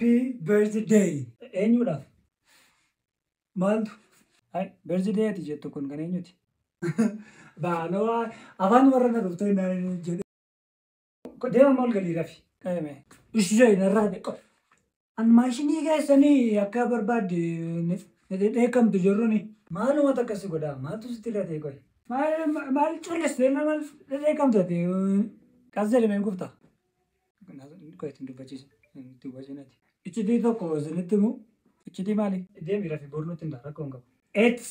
Happy birthday. Eenyuudhaaf? Maaltu? Birthday ati jettu kun kan eenyuti? Baaloo afaan warra na dhuftee naan jedhe. Deema maal galii rafi. Eeme. Ishee narraa beeku. An maashinii keessanii akka barbaadde ni dheekamtu jirruni. Maaluma takka si godhaa maaltu sitti irra ta'e qoy. Maal collistee nama dheekamtu ati. Kaas jedhamee hin kufta. Qoy ittiin dubbachiisa. Itti hubachiin ati. Iccitii tokko isinitti himu. Iccitii maali? Deemi rafi boru nutti hin ta'a rakkoo hin qabu. Eets